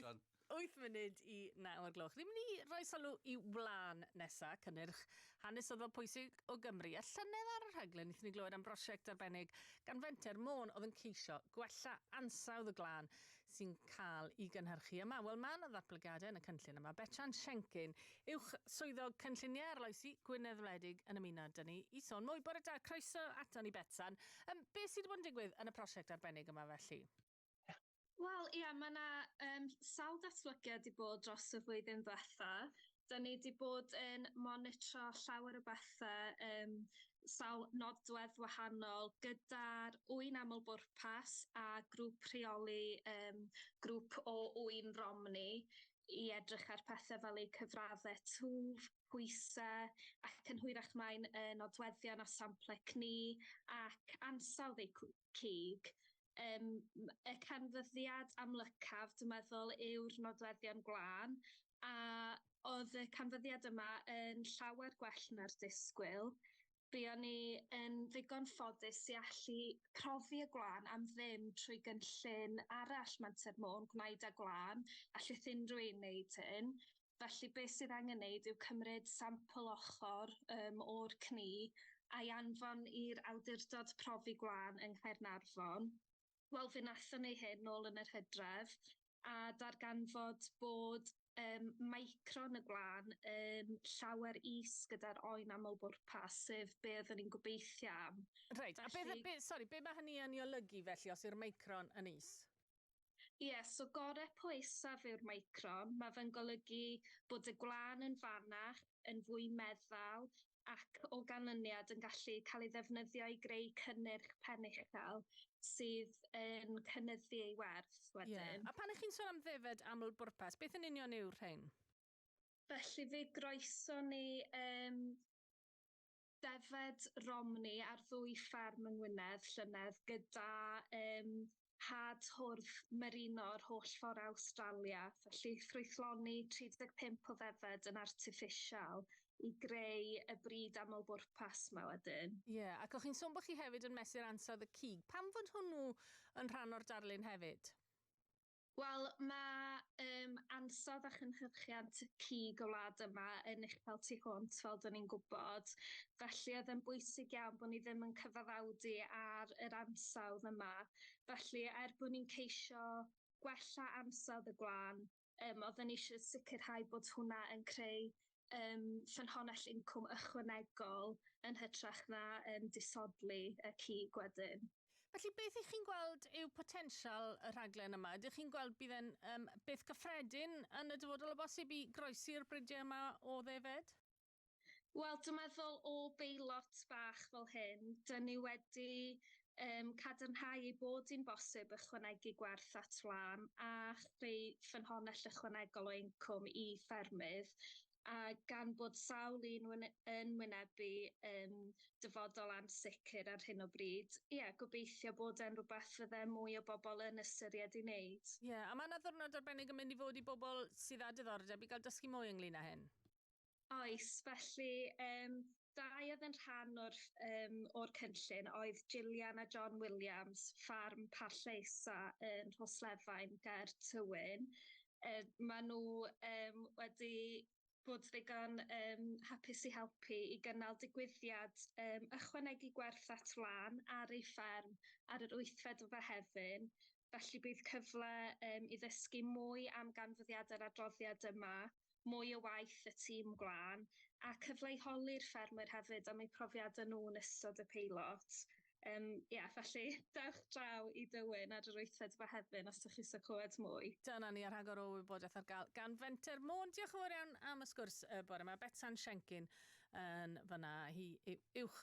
John. 8 munud i 9 o'r gloch. Ni'n mynd i roi sylw i wlân nesa, cynnyrch hanesyddol pwysig o Gymru. A llynedd ar y rhaglen, wnaethon ni glywed am brosiect arbennig gan Fenter Môn oedd yn ceisio gwella ansawdd y glân sy'n cael i gynhyrchu yma. Wel, mae yna ddatblygiadau yn y cynllun yma. Betran Siencyn, Uwch Swyddog Cynlluniau Arloesi Gwynedd Wledig yn ymuno dyn ni i sôn mwy. Bore da, croeso aton ni Betsan. Um, be sydd wedi bod yn digwydd yn y prosiect arbennig yma felly? Wel ia ma' 'na yym sawl datblygiad 'di bod dros y flwyddyn ddwetha. 'Dyn ni 'di bod yn monitro llawer o bethe yym sawl nodwedd wahanol gyda'r ŵyn aml bwrpas a grŵp rheoli yym grŵp o ŵyn Romney i edrych ar pethe fel eu cyfradde twf, pwyse ac yn hwyrach mae'n yy nodweddion a sample cni ac ansawdd eu cw- cig. Yym m- y canfyddiad amlycaf dwi'n meddwl yw'r nodweddion gwlân a o'dd y canfyddiad yma yn llawer gwell na'r disgwyl. Be' o'n i yn ddigon ffodus i allu profi y gwlân am ddim trwy gynllun arall Menter Môn, Gwnaed â Gwlân, allith unrhyw un neud hyn. Felly beth sydd angen wneud yw cymryd sampl ochr um, o'r cni a'i anfon i'r Awdurdod Profi Gwlân yng Nghaernarfon. Wel, fe wnaethon ni hyn nôl yn yr hydref a darganfod bod um, micron y gwlân yn llawer is gyda'r oen aml-bwrpas, sef be oeddwn ni'n gobeithio am. Reit, a beth, Felly- be, sori, be mae hynny yn ei olygu felly os yw'r micron yn is? Ie, so gore poethaf yw'r meicron, mae fe'n golygu bod y gwlân yn fanach, yn fwy meddal ac o ganlyniad yn gallu cael ei ddefnyddio i greu cynnyrch pen uchel sydd yn cynyddu ei werth wedyn. Ie, a pan 'y chi'n sôn am ddefaid aml-bwrpas, beth yn union yw'r rhein? Felly fe groeson ni yym Defaid Romney ar ddwy fferm yng Ngwynedd llynedd gyda um, had hwrdd merino yr holl ffordd Awstralia, felly ffrwythloni 35 o ddefaid yn artiffisial i greu y brid aml-bwrpas yma wedyn. Ie, yeah, ac o'ch chi'n sôn bod chi hefyd yn mesur ansawdd y cig. Pam fod hwnnw yn rhan o'r darlun hefyd? Wel, mae um, ansawdd a chynhyrchiant y cig o wlad yma yn uchel tu hwnt, fel dyn ni'n gwybod. Felly oedd yn bwysig iawn bod ni ddim yn cyfaddawdu ar yr ansawdd yma. Felly, er bod ni'n ceisio gwella ansawdd y gwlân, um, oedden ni eisiau sicrhau bod hwnna yn creu yym ffynhonnell incwm ychwanegol yn hytrach na yym disodli y cig wedyn. Felly beth y'ch chi'n gweld yw potensial y rhaglen yma? Ydych chi'n gweld bydd e'n yym beth cyffredin yn y dyfodol o bosib i groesi'r bridiau yma o ddefed? Wel dwi'n meddwl o beilot bach fel hyn, 'dyn ni wedi um, cadarnhau ei bod hi'n bosib ychwanegu gwerth at wlân a chreu ffynhonnell ychwanegol o incwm i ffermydd, a gan bod sawl un wyne- yn wynebu um, dyfodol ansicr ar hyn o bryd, ie, gobeithio bod e'n rhywbeth fydde mwy o bobl yn ystyried ei wneud. Ie, a mae yna ddiwrnod arbennig yn mynd i fod i bobl sydd â diddordeb i gael dysgu mwy ynglyn â hyn? Oes, felly yym dau oedd yn rhan o'r ff- yym o'r cynllun oedd Gillian a John Williams, ffarm Parllaesa yn Rhoslefain ger Tywyn. Yy maen nhw yym wedi bod ddigon yym hapus i helpu i gynnal digwyddiad yym ychwanegu gwerth at wlân ar ei fferm ar yr wythfed o Fehefin, felly bydd cyfle yym i ddysgu mwy am ganfyddiadau'r adroddiad yma. mwy o waith y tîm gwlân, a cyfleu holi'r ffermwyr hefyd am eu profiadau nhw yn ystod y peilot. Yym, ia, felly, dewch draw i Dywyn ar yr wythfed Fehefin os dych chi isio clywed mwy. Dyna ni, a rhagor o wybodaeth ar gael gan Fenter Môn. Diolch yn fawr iawn am y sgwrs y bore 'ma. Betsan Siencyn yn fan'na, hi yw uwch